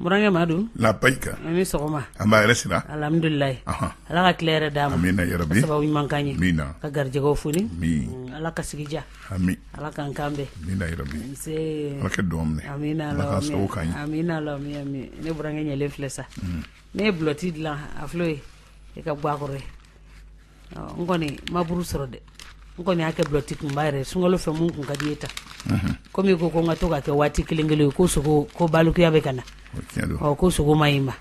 N burankɛ madu labayika a ni sɔgɔma nba hɛrɛ sira alihamudulilayi ala ka tile hɛrɛ d'an ma amiina yarabi sababu ɲuman k'an ye amiina ka garijɛgɛ fooni ala ka sigi diya amiina ala k'an kan bɛn amiina yarabi kɛ don ne burankɛ ɲɛlen filɛ sa ne ye bulɔti dilan a filɛ ye e ka gwa kɔrɔ ye n kɔni ma buru sɔrɔ dɛ n kɔni y'a kɛ bulɔti kunba yɛrɛ sunkalo fɛ mun kun ka di ye ta komi i ko ko n ka to k'a kɛ waati kelen kelen ye ko sogo ko balikuya bɛ ka na ɔ ko sogo man ɲi i ma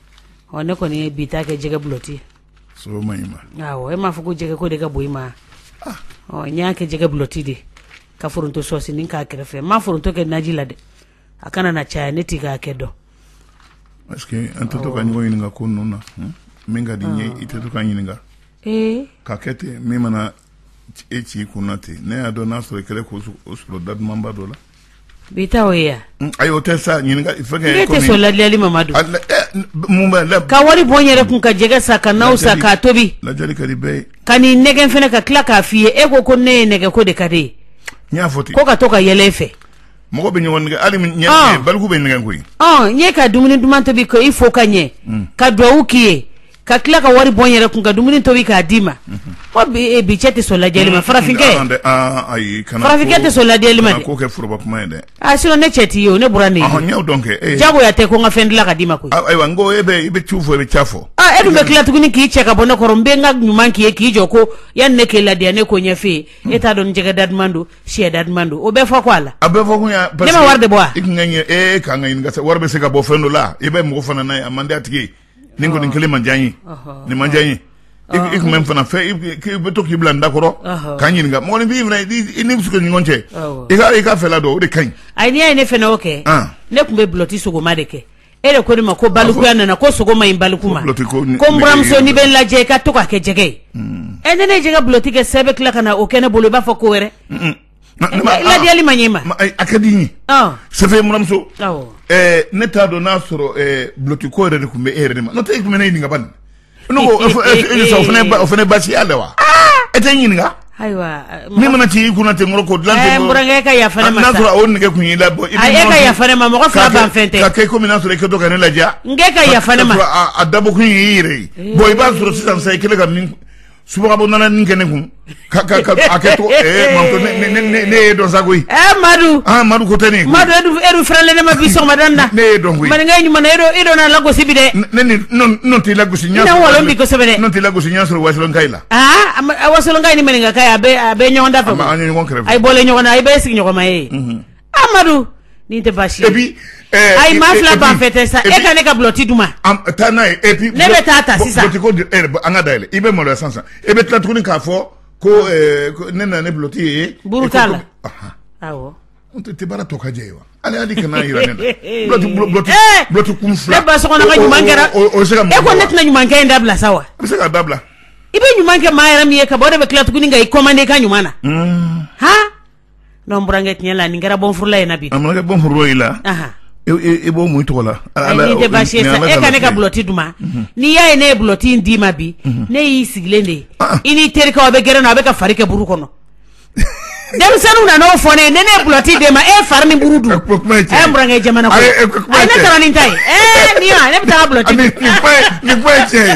ɔ ne kɔni ye bi ta kɛ jɛgɛ bulɔti e m'a fɔ ko jɛgɛ ko de ka bon i ma ah. ɔ n y'a kɛ jɛgɛ bulɔti de ka foronto sɔsinin k'a kɛrɛfɛ n ma foronto kɛ naji la dɛ a kana na caya ne tɛ k'a kɛ dɔn est-ce que an tɛ to ka ɲɔgɔn ɲininka ko ninnu na hmm? min ka di n ye ah. i tɛ to ka ɲininka ka kɛ ten min mana e ci i kunna ten ne y'a dɔn n'a sɔrɔ i kɛra k'o sɔrɔ da dumanba dɔ la bi ta o ye yan hmm, ayi o tɛ sa ɲininka fɛn kɛ ne tɛ sɔn ladiyali ma madu eh, mun b'a la ka wari bɔ n yɛrɛ kun ka jɛgɛ san ka naw san k'a tobi ladiyali ka di bɛɛ ye ka n'i nɛgɛn fɛnɛ ka tila k'a f'i ye e ko ko ne ye nɛgɛn ko de ka di e ye n y'a fɔ ten ko ka to ka yɛlɛ e fɛ mɔgɔ bɛ ɲɔgɔn nɛgɛn hali ɲɛ ah. baliku bɛ nɛgɛn koyi ah, n ye ka dumuni duman tobi ko i fo ka ɲɛ hmm. ka duwawu k'i ye ka tila ka wari bɔ n yɛrɛ kun ka dumuni tobi k'a d'i ma ko hmm. eh, bi cɛ tɛ sɔn ladiyali ma hmm. farafinkɛ ah, kana farafinkɛ tɛ sɔn ladiyali ma dɛ k'o kɛ foroba kuma ye dɛ a sinon ne cɛ t'i ye o ne buran y'i ye n y'o dɔn kɛ eh. jagoya tɛ ko n ka fɛn dilan ka d'i ma koyi ayiwa n ko e bɛ i bɛ ciw fɔ i bɛ ca fɔ e dun bɛ tila tuguni k'i cɛ ka bɔ ne kɔrɔ n bɛ n ka ɲuman k'i ye k'i jɔ ko yanni ne k'e ladiya ne k'o ɲɛf'e ye e t'a dɔn ni jɛgɛ da duman don Sɛ da duman don o bɛ fɔ ko a la a bɛ fɔ bɛɛ wari de bɔ e ka ka wari bɛ se ka bɔ fɛn dɔ la i bɛ mɔgɔ fana n' ye a man di a tigi nin kɔni kelen ma diya n ye nin ma diya n ye i tun bɛ n fana fɛ k'i bɛ to k'i bila n da kɔrɔ ka ɲininka mɔgɔninfin'i ni bɛ ɲɔgɔn cɛ i i k'a fɛla dɔn o de ka ɲi a n'i ye ne fana o kɛ ne tun bɛ bulɔti sogoma de kɛ e de ko ne ma ko balikuya nana ko sogo man ɲi baliku ma ko n buramuso n'i bɛ n ladiya i ka to k'a kɛ jɛgɛ ye mm. ɛ ne ne ye jɛgɛ bulɔti kɛ sa e bɛ tila ka na o kɛ ne bolo i b'a fɔ ko wɛrɛ ladiyali man ɲi e ma a ka di n ye sɛfɛ n buramuso ne t'a dɔn n'a sɔrɔ bulɔti ko yɛrɛ de tun bɛ e yɛrɛ de ma n'o tɛ e tun bɛ ne ɲininka bani ne ko o fana o fana baasi y'a la wa e tɛ ɲininka ayiwa min mana ci i kunna ten kɔrɔ k'o dilan ten eh, n burankɛ ka yafa ne ma sa n'a sɔrɔ o nɛgɛ kun y'i la bɔn i bɛ e ka yafa ne ma mɔgɔ fila ban fɛn tɛ ka kɛ komi n'a sɔrɔ i kɛtɔ ka ne ladiya n k'e ka yafa ne ma a dabɔkun y'i yɛrɛ ye bɔn i b'a sɔrɔ sisan sa i kɛlen ka min subo nana nin kɛ ne kun ka ka ka a kɛ to ne y'e dɔn sa koyi madu madu ko tɛ ne madu e dun fɛrɛlen ne ma bi sɔgɔmada in na ne y'e dɔn koyi maninka ɲuman e dun n lagosi bi dɛ ne t'i lagosi ɲɛ wala n b'i kosɛbɛ ne t'i lagosi ɲɛ sɔrɔ wasolonkaw la a wasolonkaw ni maninkaw a bɛ ɲɔgɔn da fɛ ɲɔgɔn aw bɔlen ɲɔgɔn na aw bɛɛ sigiɲɔgɔnma ye Amadu nin tɛ baasi ye ayi ma fila ban fɛ tɛ sa e ka ne ka bulɔti duman ma taa n'a ye e ne bɛ taa ta sisan an ka da e bɛ malo san san e bɛ tila tuguni k'a fɔ ko ne nana ni bulɔti ye buru t'a la n tɛ tɛ baara tɔgɔjɛ ye wa ale y'a kana jira ne kun fila ba kɛra se e ko ne tɛna ɲumankɛ in dabila sa wa bɛ se k'a dabila i bɛ ɲuman kɛ maa yɛrɛ min ye ka ban o de bɛ tila tuguni ka i kɔmande ka ɲuman na n'o n burankɛ tiɲɛ la nin kɛra bɔnfla in na bi ankɛ bɔnf i la i b'o mun tɔgɔ la tɛ baasi e ka ne ka bulɔti duman mhm. n'i y'a ye ne ye bulɔti d'i ma bi mhm. ne y'i sigilen de ye ah, ah. i n'i terikɛ aw bɛ gɛrɛn na a bɛ ka fari kɛ buru kɔnɔ denmisɛnninw nana n'o fɔ ne ne ne bulɔti de ma e fari ni buru dun n burankɛ jamana ko a ne taara nin ta ye ee nin ne bɛ taa bulɔti nin kuma ye tiɲɛ ye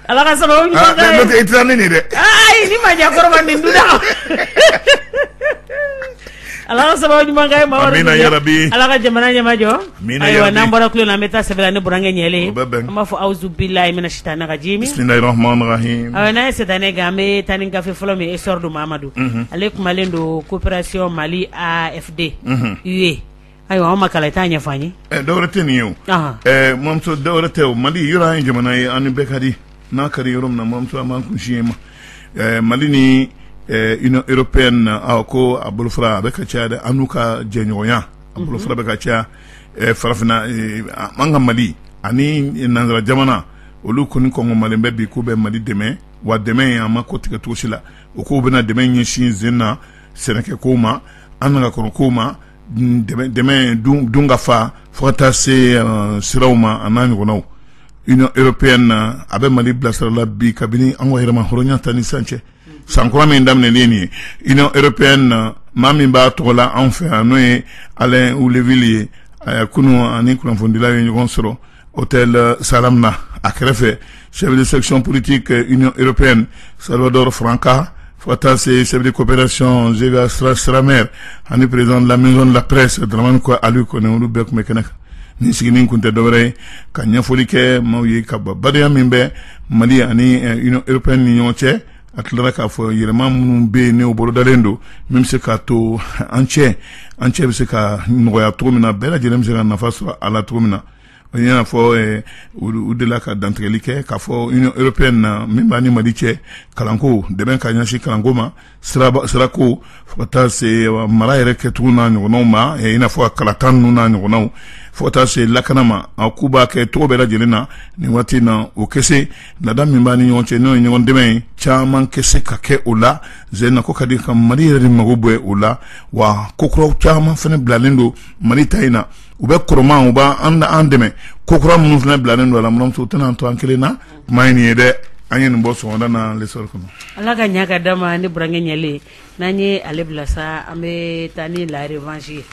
Ala ka sababu ɲuman ah, k'a ye, n'o tɛ i tɛ taa ni nin ye dɛ, ayi ni maɲɛkɔrɔba nin dun na Ala ka sababu ɲuman k'a ye Mamadu, amina yarabi, Ala ka jamana ɲɛmajɔ, amina yarabi, ayiwa n'an bɔra tulon na an bɛ taa sɛbɛ la ni burankɛ ɲɛlen ye, o bɛ bɛn, an b'a fɔ awuzu bilahi mina sitana rajimi, bisimilahi rahmani rahim, ayiwa n'an ye sitana gɛn an bɛ taa ni gafe fɔlɔ min ye Essor don Mamadu, unhun, ale kumalen don coopération Mali AFD, unhun, UE Ayiwa ma kala taa ɲɛfɔ ye dɔwɛrɛ tɛ nin ye o mamuso dɔwɛrɛ tɛ o mali yɔrɔ ye jamana ye a ni bɛɛ ka di n'a kari yɔrɔ min na mamuso a ma kunsi ye ma mali ni Union européenne ko a bolofara bɛ ka ca dɛ an n'u ka jɛɲɔgɔnya a bolofara bɛ ka ca farafinna an ka mali ani nansara jamana olu kɔni ko mali bɛ bi k'u bɛ mali dɛmɛ wa dɛmɛ in a ma kɔtigɛ cogo si la u k'u bɛna dɛmɛ ɲɛsin sen na sɛnɛko ma an'an ka kɔnɔko ma dunkafa fo ka taa se siraw ma an'a ɲɔgɔnnaw Union européenne a bɛ mali bilasira la bi kabini an ka yɛrɛmahɔrɔnya ta ni sisan cɛ san kura min daminɛlen ye Union européenne na maa min b'a tɔgɔ la anw fɛ yan n'o ye Alain Holleville ye a kunun a ni kunnafonidilaw ye ɲɔgɔn sɔrɔ hôtel euh, Salam na a kɛrɛfɛ chef de section politique euh, Union européenne Salvador Franca fo ka taa se chef de coopération Zega Strammer ani président de la maison de la presse Dramane ko Aliou Koné olu bɛɛ tun bɛ kɛnɛ kan nin sigini kun tɛ dɔwɛrɛ ye ka ɲɛfɔli kɛ maaw ye ka ba badenya min bɛ Mali ani euh, Union européenne ni ɲɔgɔn cɛ a tilara k'a fɔ yɛlɛma minnu bɛ yen n'o bolodalen don min bɛ se k'a to an cɛ an cɛ bɛ se ka nɔgɔya cogo min na bɛɛ lajɛlen bɛ se ka nafa sɔrɔ a la cogo min na i n'a fɔ u delila ka dantigɛli kɛ k'a fɔ Union européenne min b'a ni mali cɛ kalanko dɛmɛ ka ɲɛsin kalanko ma sirako fo ka taa se mara yɛrɛ kɛcogo n'a ɲɔgɔnw ma i n'a fɔ kalata ninnu n'a ɲɔgɔnw fo ka taa se lakana ma a k'u b'a kɛ cogo bɛɛ lajɛlen na nin waati in na o kese laada min b'an ni ɲɔgɔn cɛ n'o ye ɲɔgɔn dɛmɛ ye caman kɛ se ka kɛ o la zɛna ko ka di ka mali yɛrɛ de mago b'o la wa kokuraw caman fana bilalen don mali ta in na u bɛ kɔrɔma u b'an an da an dɛmɛ kokura minnu fana bilalen don a la buranmuso tɛna an to an kelen na kuma ɲi nin ye dɛ an ye nin bɔ sɔgɔmada na lesɔrɔ kɔnɔ ala ka ɲa ka d'an ma ne burankɛ ɲɛlen n'an ye ale bila sa an bɛ taa ni la revanche ye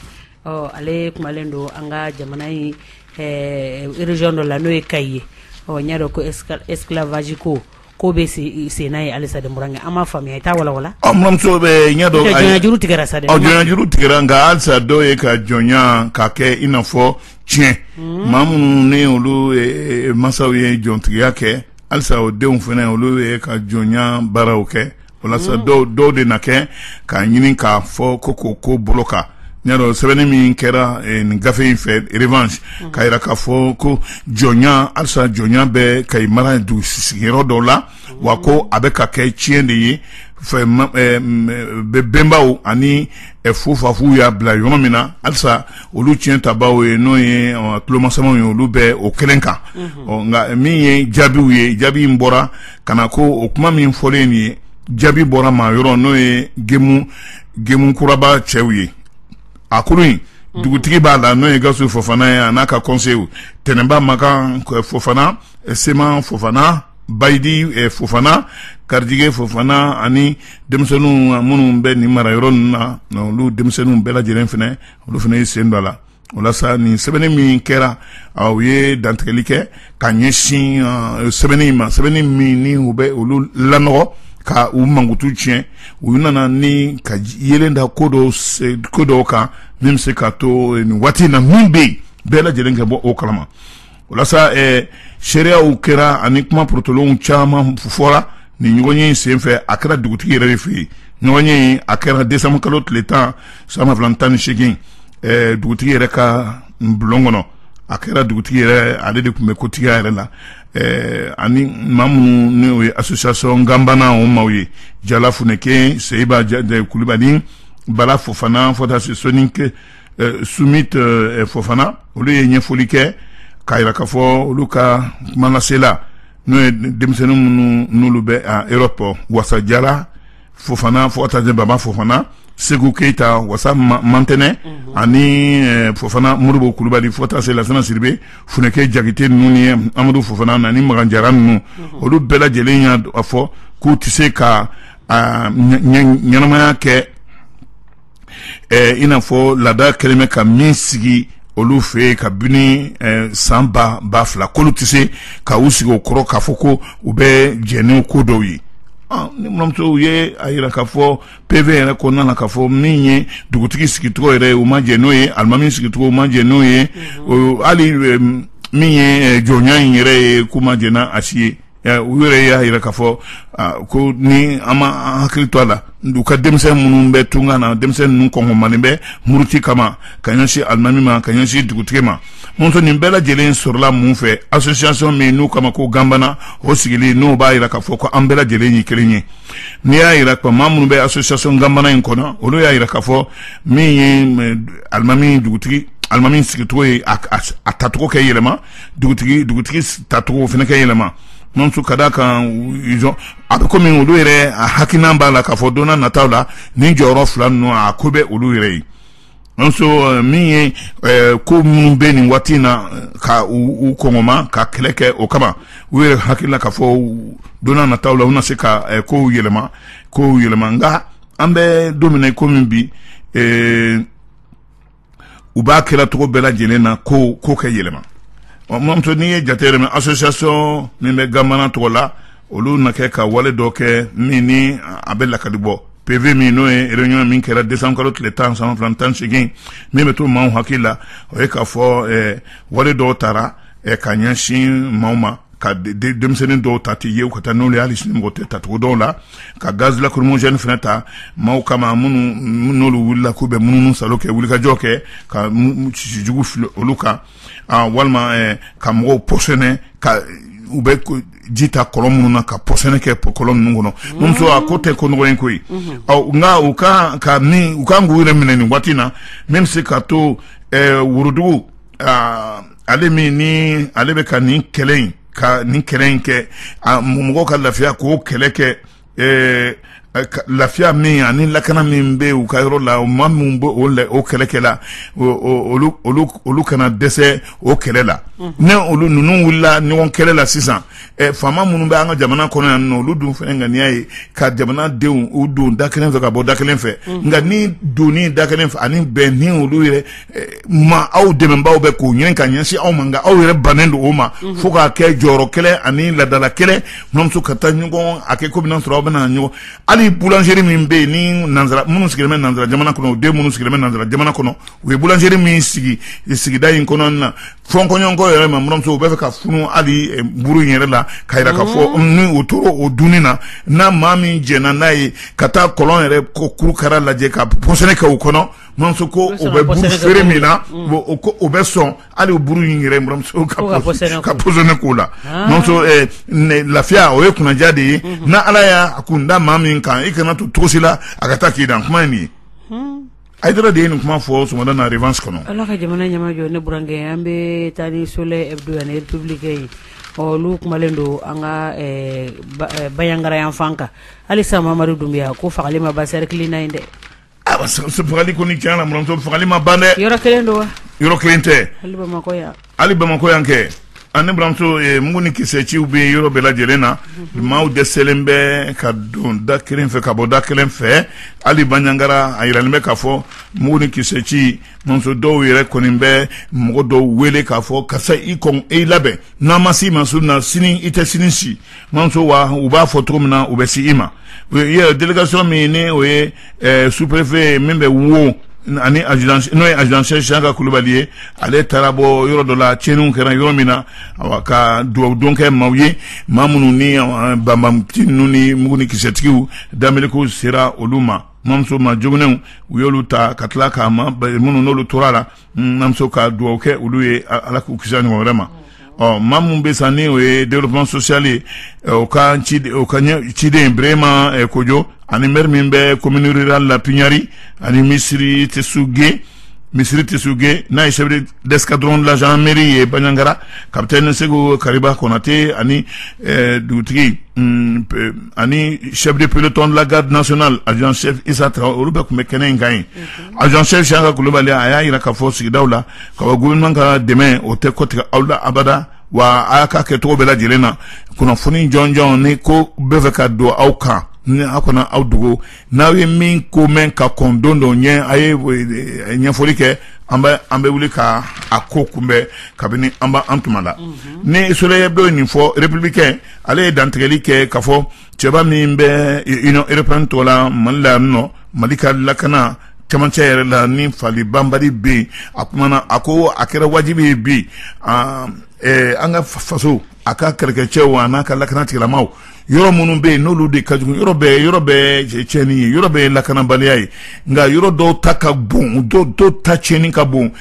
ɔ ale kumalen don an ka jamana in eh, region dɔ la n'o ye kayi ye ɔ n y'a dɔn ko esclavage ko ko bɛ sen na yen halisa dɛ burankɛ an m'a faamuya i t'a walawala ɔ buranmuso bɛɛ y'a dɔn jɔnyajuru tigɛra sa dɛ ɔ jɔnyajuru tigɛra nka halisa dɔw ye ka jɔnya ka kɛ i n'a fɔ tiɲɛ hmm. maa minnu ni olu eh, eh, mansaw ye jɔntigiya kɛ halisa o denw fana olu ye ka jɔnya baaraw kɛ walasa mm. dɔw dɔw de na kɛ k'a ɲini k'a fɔ ko ko ko bolo kan ɲa dɔn sɛbɛnni min kɛra eh, nin gafe in fɛ revanche mm. k'a yira k'a fɔ ko jɔnya halisa jɔnya bɛ kayi mara dugu sigiyɔrɔ dɔw la mm. wa ko a bɛ ka kɛ tiɲɛ de ye fɛ eh, eh, bɛnbaw ani eh, fofafuw y'a bila yɔrɔ min na halisa olu tiɲɛtabaw ye n'o ye tulomasamaw ye olu bɛ o kelen kan mm-hmm. nka min ye jaabiw ye jaabi in bɔra ka na ko o kuma min fɔlen nin ye jaabi bɔra maa yɔrɔ n'o ye gemu gemukuraba cɛw ye a kulu in mhm. dugutigi b'a la n'o ye gasu fofana ye a n'a ka kɔnsew tɛnɛnba makan eh, fofana eh, seman fofana bayidi eh, fofana karijige fofana ani denmisɛnninw minnu bɛ nin mara yɔrɔ ninnu na olu denmisɛnninw bɛɛ lajɛlen fana olu fana ye sen don a la walasa nin sɛbɛnni min kɛra u ye dantigɛli kɛ ka ɲɛsin sɛbɛnni in ma sɛbɛnni min ni o bɛ olu lanɔgɔ ka u mankutu tiɲɛ u nana ni ka yeelen da ko dɔw ko dɔw kan min bɛ se ka to nin waati in na min bɛ yen bɛɛ lajɛlen ka bɔ o kalama walasa seereyaw kɛra ani kuma porotolenw caman fɔra nin ɲɔgɔnye senfɛ a kɛra dugutigi yɛrɛ de fɛ yen ɲɔgɔnye a kɛra desanburu kalo tile tan san ba fila ni tan ni seegin dugutigi yɛrɛ ka bulon kɔnɔ a kɛra dugutigi yɛrɛ ale de tun bɛ kotigiya yɛrɛ la ani maa minnu n'o ye association ganbana o maaw ye jala funɛke seyiba kulubali bala fofana fo ka taa se sɔni Eh, sumit eh, fofana olu ye ɲɛfɔli kɛ k'a yira k'a fɔ olu ka kumalasela n'o ye denmisɛnnin minnu n'olu bɛ a europe wasa jala fofana fo ka taa baba fofana segu keyita wasa mantɛnɛ mhm. ani eh, fofana modibo kulubali fo ka taa se lasana siribe funeke jakite ninnu ni amadu fofana ani magan jara ninnu mhm. olu bɛɛ lajɛlen y'a fɔ k'u tɛ se ka ɲɛnamaya kɛ ɛɛ i n'a fɔ laada kɛlen bɛ ka min sigi olu fɛ yen kabini eh, san ba ba fila k'olu tɛ se ka u sigi o kɔrɔ k'a fɔ ko u bɛ jɛn ni ko dɔw ye ah, n balimamuso u ye a yira k'a fɔ pv yɛrɛ kɔnɔna na k'a fɔ min ye dugutigi sigicogo yɛrɛ ye u ma jɛn n'o ye alimami sigicogo u ma jɛn n'o ye mhm. hali eh, min ye eh, jɔnya in yɛrɛ ye k'u ma jɛn n'a a si ye U yɛrɛ y'a jira k'a fɔ ko ni an ma hakili to a la u ka denmisɛn minnu bɛ tunga na denmisɛn ninnu kɔngɔmanen bɛ muruti kama ka ɲɛsin alimami ma ka ɲɛsin dugutigi ma mamuso nin bɛɛ lajɛlen sɔrɔla mun fɛ association min n'u k'a ma ko ganbana o sigilen n'o b'a jira k'a fɔ ko an bɛɛ lajɛlen ye kelen ye n'i y'a jira ko maa minnu bɛ association ganbana in kɔnɔ olu y'a jira k'a fɔ min ye alimami dugutigi alimami sigicogo ye a tacogo ka yɛlɛma dugutigi dugutigi tacogo fana ka yɛlɛma mamuso ka d'a kan ijɔ a bɛ komi olu yɛrɛ hakilina b'a la k'a fɔ don na nataw la nin jɔyɔrɔ fila ninnu a ko bɛ olu yɛrɛ ye mamuso eh, min ye eh, ko minnu bɛ nin waati in na eh, ka u kɔngɔma ka kɛlɛ kɛ o kama u yɛrɛ hakili la k'a fɔ don na nataw la u na se ka kow yɛlɛma kow yɛlɛma nka an bɛ don min na i komi bi u b'a kɛ la cogo bɛɛ lajɛlen na ko kow ka yɛlɛma mamuso n'i y'a jateminɛ association min bɛ ganbana tɔgɔ la olu na kɛ ka wale dɔ kɛ min ni a bɛ lakali bɔ pv min n'o ye réunion min kɛra décembre kalo tile tan san ba fila tan segin min bɛ to maaw hakili la o ye k'a fɔ wale dɔw tara ka ɲɛsin maaw ma ka denmisɛnnin dɔw ta tɛ ye ka taa n'o hali sunmɔgɔ tɛ tacogo dɔw la ka gaz lacrymogène fana ta maaw kama minnu n'olu wulila k'u bɛ munumunusaalo kɛ wulikajɔ kɛ ka sijugu fili olu kan walima eh, ka mɔgɔw pɔsɔni ka u bɛ ji ta kɔlɔn minnu na ka pɔsɔni kɛ kɔlɔn ninnu kɔnɔ mamuso a ko tɛ ko nɔgɔn ye koyi mm-hmm. ɔ nka u ka kan u kan k'u yɛrɛ minɛ nin waati na min bɛ se ka to eh, worodugu ale min ni ale bɛ ka nin kɛlɛ in ka nin kɛlɛ in kɛ mɔgɔw ka lafiya k'o kɛlɛ kɛ lafiya min ani lakana min bɛ u ka yɔrɔ la maa minnu bɛ o o kɛlɛ kɛ la olu kana dɛsɛ o kɛlɛ la ni olu ninnu wulila ɲɔgɔn kɛlɛ la sisan faama minnu bɛ an ka jamana kɔnɔ yan n olu dun fana ŋaniya ye ka jamanadenw u don da kelen fɛ ka bɔ da kelen fɛ nka ni don da kelen fɛ ani bɛn ni olu yɛrɛ ma aw dɛmɛbaaw bɛ k'o ɲɛ ka ɲɛsin aw ma nka aw yɛrɛ bannen don o ma mhm. fo k'a kɛ jɔyɔrɔ kɛlɛ ani ladala kɛlɛ n buranmuso ka taa ɲɔgɔn a kɛ ko bɛna sɔrɔ aw bɛna ɲɔgɔn hali boulangerie min bɛ yen ni nanzara minnu sigilen bɛ nanzara jamana kɔnɔ u den minnu sigilen bɛ nanzara jamana kɔnɔ u ye boulangerie min sigi sigida in kɔnɔ na fɔɲɔgɔnkɔ yɛrɛ ma n buranmuso u bɛ fɛ ka funu hali eh, buru in yɛrɛ la ka yira ka fɔ mhm. ni o tora o dunni na n'a maa min jɛnna n'a ye ka taa kɔlɔn yɛrɛ kuru kara lajɛ ka pɔsɔni kɛ u kɔnɔ Buranmuso ko o bɛ buru feere min na o ko o bɛ sɔn hali buru in yɛrɛ n buranmuso ka pɔsɔni k'o la lafiya o ye kunnaja de ye n' ala y'a kun da maa min kan i kana to tosi la a ka taa Kidali kuma min ye Hayidara de ye nin kuma fɔ sɔgɔmada na Revanche kɔnɔ ala ka jamana ɲama jɔ ne burankɛ an bɛ taa ni Soleil Hebdo ani Républicain ye olu kumalen don an ka Banjagara yan fan kan hali sa Mamadu Dunbiya ko fagali ma basigi kelenna in dɛ fagali kɔni tiɲɛ na n buranmuso fagali ma ban dɛ yɔrɔ kelen don wa yɔrɔ kelen tɛ hali bamakɔ yan hali bamakɔ yan kɛ ani buranmuso eh, mugu ni kisɛ ciw bɛ yɔrɔ bɛɛ lajɛlen na mhm. maaw dɛsɛlen bɛ ka don da kelen fɛ ka bɔ da kelen fɛ hali Banjagara a yiralen bɛ k'a fɔ mugu ni kisɛ ci n buranmuso dɔw yɛrɛ kɔni bɛ mɔgɔ dɔw wele k'a fɔ karisa i kɔn i labɛn n'an ma se i ma su in na sini i tɛ sini si buranmuso wa u b'a fɔ cogo min na u bɛ se i ma délégation min ni o ye sous-préfet min bɛ Wo ani n'o ye adjudant chef Siyaka Kulubali ye ale taara bɔ yɔrɔ dɔ la tiɲɛniw kɛra yɔrɔ min na ka dugawudon kɛ maaw ye maa minnu ni banbaanci ninnu ni mugu ni kisɛtigiw daminɛko sera olu ma n buranmuso maa joginnenw u y'olu ta ka tila ka maa minnu n'olu tora a la n buranmuso ka dugawu kɛ olu ye ala k'u kisi a ɲɔgɔn wɛrɛ ma ɔ maa min bɛ san ni o ye développement social ye o ka ci o ka ɲɛ ciden Birahima Kojo ani maire min bɛ commune rurale la Pignari ani misiri Tesuge misiri Tesuge n'a ye chef d'escadron de la gendarmerie ye Banjagara capitaine Seku Kariba Konate ani dugutigi ani chef de peloton de la garde nationale adjudant chef Isa Traore olu bɛɛ tun bɛ kɛnɛ in kan yen adjudant chef Siyaka Kulubali a y'a jira k'a fɔ sigidaw la ka gouvernement ka dɛmɛ o tɛ kɔtigɛ aw la abada wa a y'a ka kɛ cogo bɛɛ lajɛlen na kunnafoni jɔnjɔn ni ko bɛ fɛ ka don aw kan ni aw kana aw dogo n'aw ye min ko mɛn ka kɔn don don ɲɛ a ye ɲɛfɔli kɛ an bɛ an bɛ wuli ka a ko kunbɛn kabini an b' an tuma la ni Soleil Hebdo ye nin fɔ Républicain ale ye dantigɛli kɛ ka fɔ cɛba min bɛ union européenne tɔgɔ la mali la yan nɔ mali ka lakana camancɛ yɛrɛ la ni faali banbali bɛ yen a kumana a ko a kɛra wajibi ye bi an ka faso a ka kɛlɛkɛcɛw a n'a ka lakana tigilamaw yɔrɔ minnu bɛ yen n'olu de ka jugu yɔrɔ bɛɛ yɔrɔ bɛɛ tiɲɛni ye yɔrɔ bɛɛ lakanabaliya ye nka yɔrɔ dɔw ta ka bon dɔw dɔw ta tiɲɛni ka bon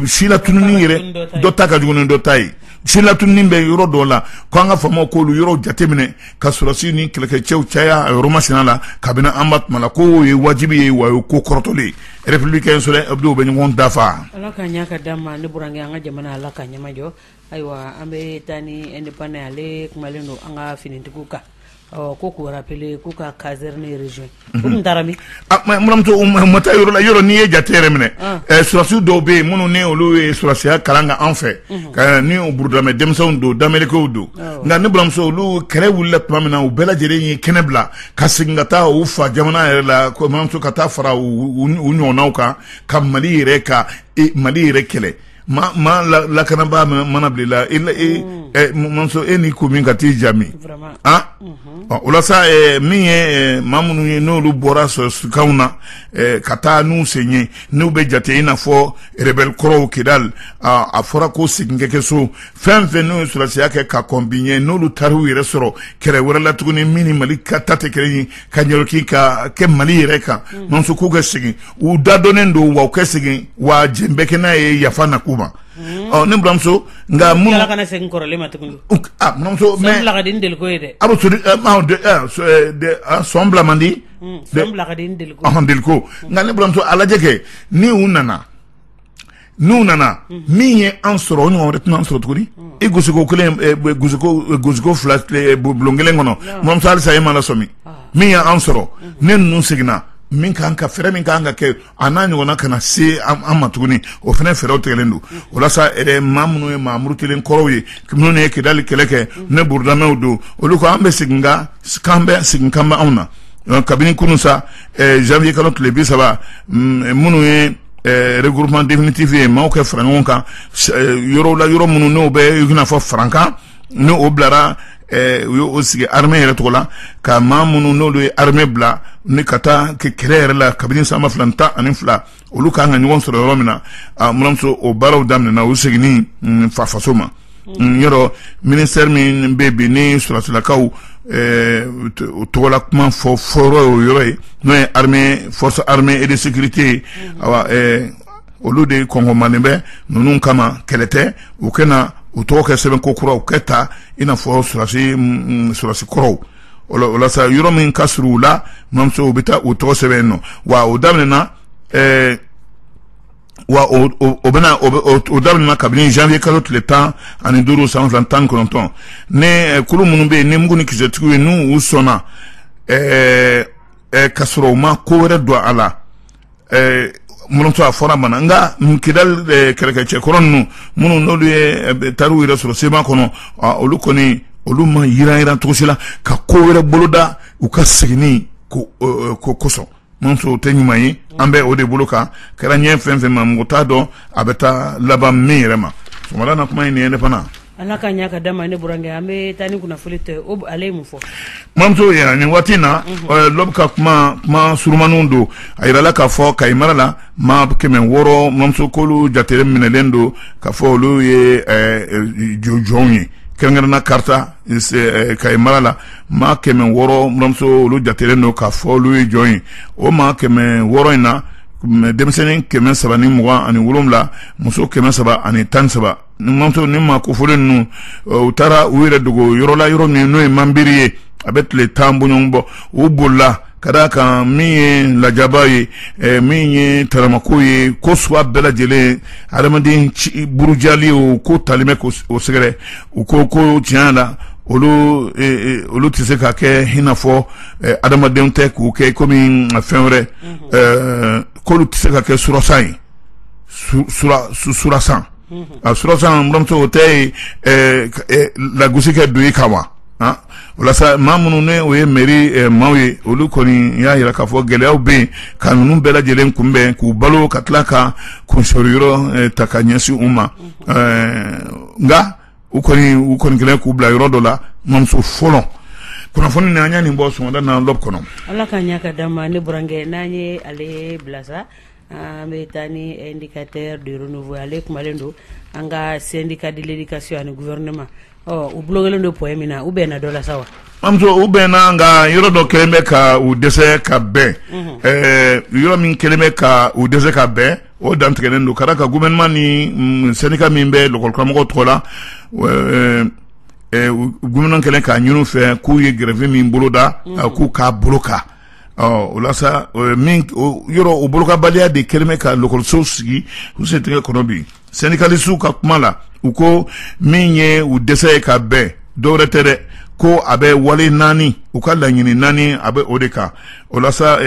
silatununi yɛrɛ dɔ ta ka jugu ni dɔ ta ye silatununi bɛ yɔrɔ dɔw la ko an ka faamaw k'olu yɔrɔ jateminɛ ka sɔrɔsi ni kɛlɛkɛcɛw caya a yɔrɔ masina la kabini an b'a tuma la k'o ye wajibi ye wa o ye ko kɔrɔtɔlen républicain soleil hebdo bɛ ɲɔgɔn dafa ala k'a ɲa ka d'an ma ne burankɛ an ka jamana ala k'a ɲɛmajɔ ayiwa an bɛ taa ni indépendant ye ale kumalen don an ka finitigiw kan ɔ ko k'u rappeler k'u ka caserne rejoin buramuso u ma taa yɔrɔ la yɔrɔ n'i ye jate yɛrɛ minɛ ah. eh, sɔrɔsiw dɔw bɛ yen minnu n'olu ye sɔrɔsiya kalan k'an fɛ mhm. n'o burudamɛ denmisɛnw don danmɛlɛkɛw don oh. nka ne buramuso olu kɛlɛ wulila tuma min na u bɛɛ lajɛlen ye kɛnɛ bila ka segin ka taa u fa jamana yɛrɛ la ko buramuso ka taa fara u ɲɔgɔnnaw kan ka mali yɛrɛ ka e, mali yɛrɛ kɛlɛ Maa lakanabaa mana bil'i la buramuso e ni ko min ka t'i jamu aa o la sa min ye maa minnu ye n'olu bɔra sɔrɔsikanw na ka taa n'u sen ye n'u bɛ jate i n'a fɔ rebelle kɔrɔw kidali a fɔra ko segin ka kɛ so fɛn fɛn n'u ye sɔrɔsiya kɛ ka kɔn bi ɲɛ n'olu taar'u yɛrɛ sɔrɔ kɛlɛ wɛrɛ la tuguni min ni mali ka ta tɛ kelen ye ka ɲɛlɔki ka kɛ mali yɛrɛ kan mm. buramuso k'u ka segin u dadonnen don wa u ka segin wa jɛn bɛ kɛ n'a ye yafa na k'u ma mm. ɔ ne buramuso nka minnu ala kana segin kɔrɔlen ma tuguni a buramuso mais sɔn bila ka di ni deliko ye dɛ a bɛ sori sɔn bila man di mm, sɔn bila ka di ni deliko ɔhɔn deliko nka ne buramuso a lajɛ kɛ ni u nana n'u nana min ye an sɔrɔ o ɲɔgɔn wɛrɛ tɛna an sɔrɔ tuguni i gosiko kelen gosiko fila bulon kelen kɔnɔ buramuso halisa e ma lasɔmi min y'an sɔrɔ ni ninnu seginna min ka ka fɛɛrɛ min ka kan ka kɛ a n'a ɲɔgɔn kana se an ma tuguni o fana fɛɛrɛw tigɛlen don walasa maa minnu ye maa murutilen kɔrɔw ye minnu ye kidali kɛlɛ kɛ ni burudamɛw don olu ko an bɛ segin k'an bɛ segin kanbɛn anw na kabini kunun sa ɛɛ janvier kalo tile bi saba mm, minnu ye ɛɛ regroupement définitif ye maaw ka fara ɲɔgɔn kan ɛɛ yɔrɔw la yɔrɔ minnu n'o bɛ i n'a fɔ farankan ni o bilara ɛɛ u y'o sigi armée yɛrɛ tɔgɔ la ka maa minnu n'olu ye armée bila ni ka taa kɛlɛ yɛrɛ la kabini san ba fila ni tan ani fila olu ka kan ka ɲɔgɔn sɔrɔ yɔrɔ min na buramuso o baaraw daminɛna u seginni mm, fa faso ma mm. Mm, yɔrɔ ministère min bɛ bi ni sɔrɔsilakaw eh, o tɔgɔla kuma fɔ fɔyɔrɔ y'o yɔrɔ ye n'o ye armée force armée et de sécurité ye awa eh, olu de kɔngɔmanen bɛ ninnu kama kɛlɛ tɛ u ka na u tɔgɔ kɛ sɛbɛn kokura u kɛ ta i n'a fɔ sɔrɔsi sɔrɔsi kɔrɔw o la sa yɔrɔ min ka surun u la mamuso u bɛ taa u tɔgɔ sɛbɛn yen nɔ wa o daminɛna ɛɛ wa o o o bɛna o bɛ o daminɛna kabini janvier kalo tile tan ani duuru san fila tan ni kɔnɔntɔn ni kulu minnu bɛ yen ni mugu ni kisɛtigiw ye n'u u sɔnna ɛɛ ɛɛ ka sɔrɔ u ma ko wɛrɛ don a la. eh, mamuso a fɔra mana nka kidal eh, kɛlɛkɛcɛ kɔrɔ ninnu minnu n'olu ye eh, tariw yɛrɛ sɔrɔ CMA kɔnɔ ah, olu kɔni olu ma yiranyiran cogo si la ka ko wɛrɛ boloda u ka seginni ko eh, ko kosɔn mamuso o tɛ ɲuman ye an bɛ o de bolo kan kɛra ɲɛ fɛn fɛn ma mɔgɔ t'a dɔn a bɛ taa laban min yɛrɛ ma sɔgɔmada na kuma ye nin ye ne fana Ala ka ɲa ka d'an ma ne burankɛ. An bi taa ni kunnafoni L'Aube ye Ale ye mun fɔ? Mamuso yan ni waati in na L'Aube ka kuma kuma surunmaninw don a jirala ka fɔ Kayi mara la maa 600 mamuso k'olu jate minɛlen don ka fɔ olu ye jɔnw ye kɛrɛnkɛrɛnnenya la Kaarta Kayi mara la maa 600 mamuso olu jatelen don ka fɔ olu ye jɔn ye. O maa 600 in na denmisɛnnin 327 ani muso 313 mamuso nin maa kofɔlen ninnu u taara u yɛrɛ dogo yɔrɔ la yɔrɔ min n'o ye manbiri ye a bɛ tile tan bɔɲɔgɔn bɔ u bolila ka d'a kan min ye lajaba ye eh, min ye taramako ye ko suwa bɛɛ lajɛlen adamaden burujali o ko talen bɛ k'o sɛgɛrɛ u ko ko tiɲɛ la olu eh, eh, olu tɛ se ka kɛ i n'a fɔ adamadenw tɛ k'u kɛ komi fɛn wɛrɛ mhm. k'olu tɛ se ka kɛ surasan ye surasan a buranmuso o tɛ lagosi kɛ don i kan wa o la sa maa minnu ni o ye mairie maaw ye olu kɔni y'a jira k'a fɔ gɛlɛya bɛ yen ka ninnu bɛɛ lajɛlen kunbɛn k'u balo ka tila ka kunso yɔrɔ ta ka ɲɛsin u ma nka u kɔni u kɔni kɛlen k'u bila yɔrɔ dɔ la mamuso fɔlɔ kunnafoni an ye nin bɔ sɔgɔmada na L'Aube kɔnɔ ala ka ɲɛ ka d'an ma ne burankɛ n'an ye ale bila an bɛ taa ni indicateur de renouveau ye ale kumalen don an ka syndicat de l'éducation ani gouvernement ɔ u blokelen don point min na u bɛnna dɔ la sa wa. mamuso u bɛnna nka yɔrɔ dɔ kɛlen bɛ ka u dɛsɛ ka bɛn ɛɛ yɔrɔ min kɛlen bɛ ka u dɛsɛ ka bɛn o dantigɛlen don ka d'a kan gouvernement ni syndicat min bɛ lɔkɔlikaramɔgɔw tɔgɔ la ɛɛ gouvernement kɛlen k'a ɲinin u fɛ k'u ye grève min boloda k'u k'a boloka. Ɔ o la sa min yɔrɔ o bolokabaliya de kɛlen bɛ ka lakɔlisow sigi u sen tɛgɛ kɔnɔ bi syndicalistes ka kuma la u ko min ye u dɛsɛ ye ka bɛn dɔwɛrɛ tɛ dɛ ko a bɛ wale naani u ka laɲini naani a bɛ o de kan o la sa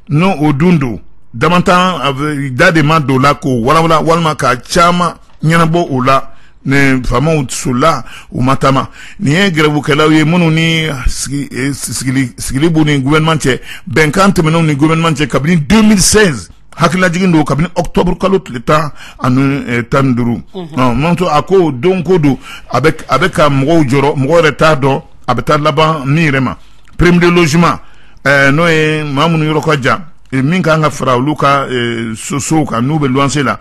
n'o o dun don datanjan de ma don la k'o walawala walima ka caman ɲɛnabɔ o la nin faamaw sola u ma taama nin ye grèvekɛlaw ye minnu ni eh, eh, sigili b'u ni gouvernement cɛ bɛnkan tɛmɛnenw ni gouvernement cɛ kabini 2016 hakililajigin don kabini octobre kalo tile tan ani eh, tan ni duuru mhm. manto a ko don ko don a bɛ ka mɔgɔw jɔrɔ mɔgɔ yɛrɛ t'a dɔn a bɛ taa laban min yɛrɛ ma prime de logement n'o ye maa minnu yɔrɔ ka jan min ka kan ka fara olu ka sosow kan n'u bɛ luwanse la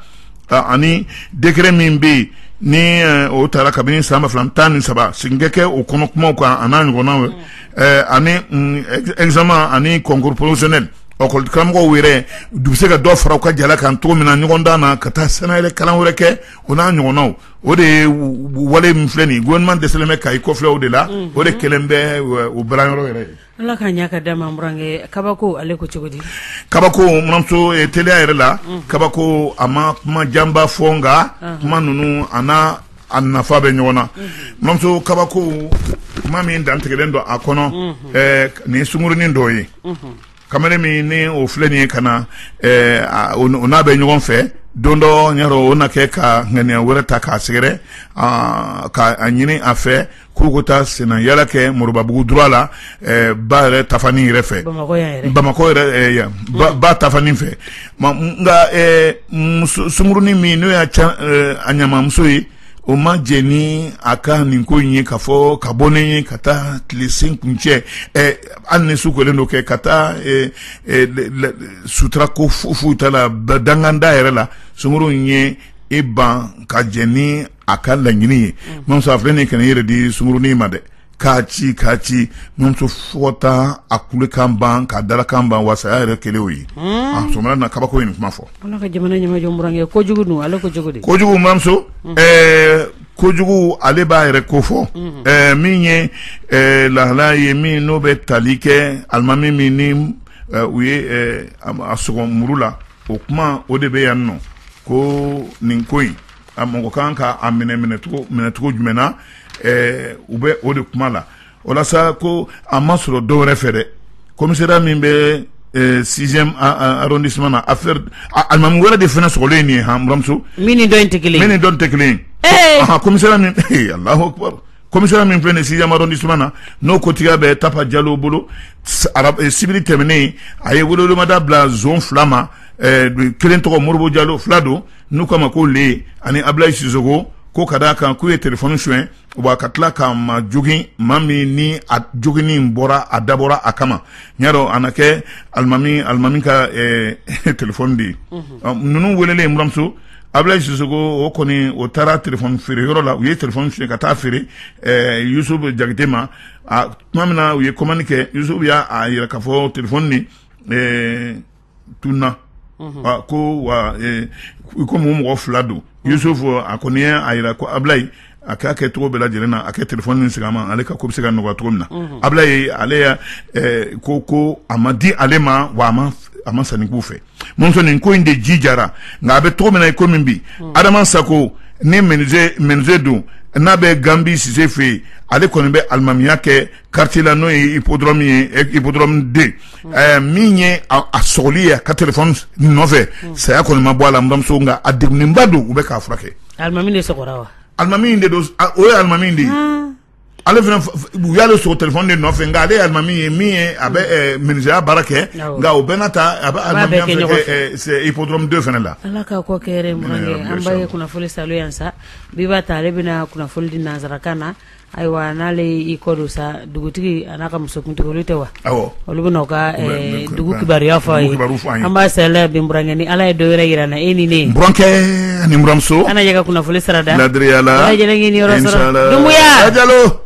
ani décret min bɛ yen ni eh, o taara kabini san ba fila tan ni saba segin ka kɛ o kɔnɔ kumaw kan a n'a ɲɔgɔnnaw mm. eh, ani mm, examen ani concours professionnel lakɔli karamɔgɔw yɛrɛ u bɛ se ka dɔ fara u ka jala kan cogo min na ɲɔgɔndan na ka taa sɛnɛyɛlɛ kalan wɛrɛ kɛ o n'a ɲɔgɔnnaw o de ye wale min filɛ nin ye gouvernement dɛsɛlen bɛ ka i kɔfilɛ o de la mm-hmm. o de kɛlen bɛ eh, o balanyɔrɔ yɛrɛ ye Ala ka ɲa ka d'an ma burankɛ kabako ale ko cogo di kabako buranmuso teliya yɛrɛ la kabako a ma kuma janba fɔ nka kuma ninnu a a nafa bɛ ɲɔgɔn na buranmuso kabako kuma min dantigɛlen don a kɔnɔ nin sunkurunin dɔ ye kamalen min ni o filɛ nin ye ka na n'a bɛ ɲɔgɔn fɛ don dɔ o na kɛ ka ŋaniya wɛrɛ ta k'a sɛgɛrɛ k'a ɲini a fɛ k'u ka taa senna yaala kɛ moribabugu droit la ba yɛrɛ tafan in yɛrɛ fɛ bamakɔ ba tafan in fɛ nka sunkurunin min n'o y'a a ɲamamuso ye o ma jɛ ni a ka nin ko in ye k'a fɔ ka bɔ ne ye ka taa tile sen kuncɛ hali ni su kolen don kɛ ka taa sutura ko foyi t'a la danganda yɛrɛ la sunkuru in ye i ban ka jɛ ni a ka laɲini ye mm. buranmuso filɛ nin ka na i yɛrɛ di sunkurunin ma dɛ k'a ci k'a ci buranmuso fo taa a kulekan ban k'a dalakan ban wa saya yɛrɛ kelen o ye mm. a sɔmina na kabako ye nin kuma fɔ ala ka jamana ɲɛmajɔ burankɛ kojugu dun ale kojugu de kojugu buranmuso mm. eh, kojugu ale b'a yɛrɛ ko fɔ mm-hmm. eh, min ye eh, lahala ye min n'o bɛ tali kɛ alimami min ni u ye a sɔgɔ muru la o kuma o de bɛ yan nɔ ko nin ko in A mɔgɔ kan ka a minɛ minɛcogo minɛcogo jumɛn na ɛɛ u bɛ o de kuma la walasa ko a ma sɔrɔ dɔw wɛrɛ fɛ dɛ kɔmira min bɛ sizdisumana a alimamu wɛrɛ de fana sogolen nin ye hamimuso min dɔn in tɛ kelen min ni dɔn tɛ kelen kɔmira min kɔmimi min filɛ nin simadɔdi suman na n'o kotigiya bɛ tapa jalo bolo sibiri tɛmɛnen a ye wolodimada bila fila ma kelen tɔgɔ moribu jalo fila don n'u k'a ma ko le ani abilayi sisoko ko ka d'a kan k'u ye telefɔni suɲɛ wa ka tila ka maa jogin maa min ni a joginni bɔra a dabɔra a kama n y'a dɔn a na kɛ alimami alimami ka eh, telefɔni de ye ninnu welelen buramuso abulayi sisoko o kɔni o taara telefɔni feere yɔrɔ la u ye telefɔni suɲɛ ka taa feere eh, yusuf jakite ma a tuma min na u ye kɔmandi kɛ yusuf y'a yira k'a fɔ telefɔni ni eh, tununna ko wa komi u mɔgɔ fila don yusuf a kɔni y'a jira ko abulayi a k'a kɛ cogo bɛɛ lajɛlen na a ka telefɔni nin segin a ma ale ka ko bɛ se ka nɔgɔya cogo min na abulayi ale ko ko a ma di ale ma wa a ma san nin kɔfɛ munin ko in de ji jara nka a bɛ cogo min na i komi bi adama sako ni menizye don n'a bɛ ganbi sise fɛ yen ale kɔni bɛ alimamiya kɛ karitiye la n'o ye hippodrome ye hippodrome deux min ye a sogolen y'a ka telefɔni nɔfɛ saya kɔni ma bɔ a la buramuso nka a degunnenba don u bɛ k'a furakɛ alimami de don o ye alimami de ye ale u y'ale sogo telefɔni de nɔfɛ nka ale alimami ye min ye a bɛ menizye baara kɛ nka u bɛna taa a bɛ hippodrome deux fan de la ala ka kɔ kɛ an ba ye kunnafoni sa yan sa b'a ta ale bɛna kunnafoni di nansarakan na Ayiwa n'ale i kɔdon sa dugutigi an'a ka musokuntigi olu tɛ wa olu bɛ ka dugu kibaruya fɔ an ye an b'a sa burankɛ ni ala ye don wɛrɛ jira an na e ni ne burankɛ ni n buramuso an ɲɛ ka kunnafoni sara da ladiriyamuya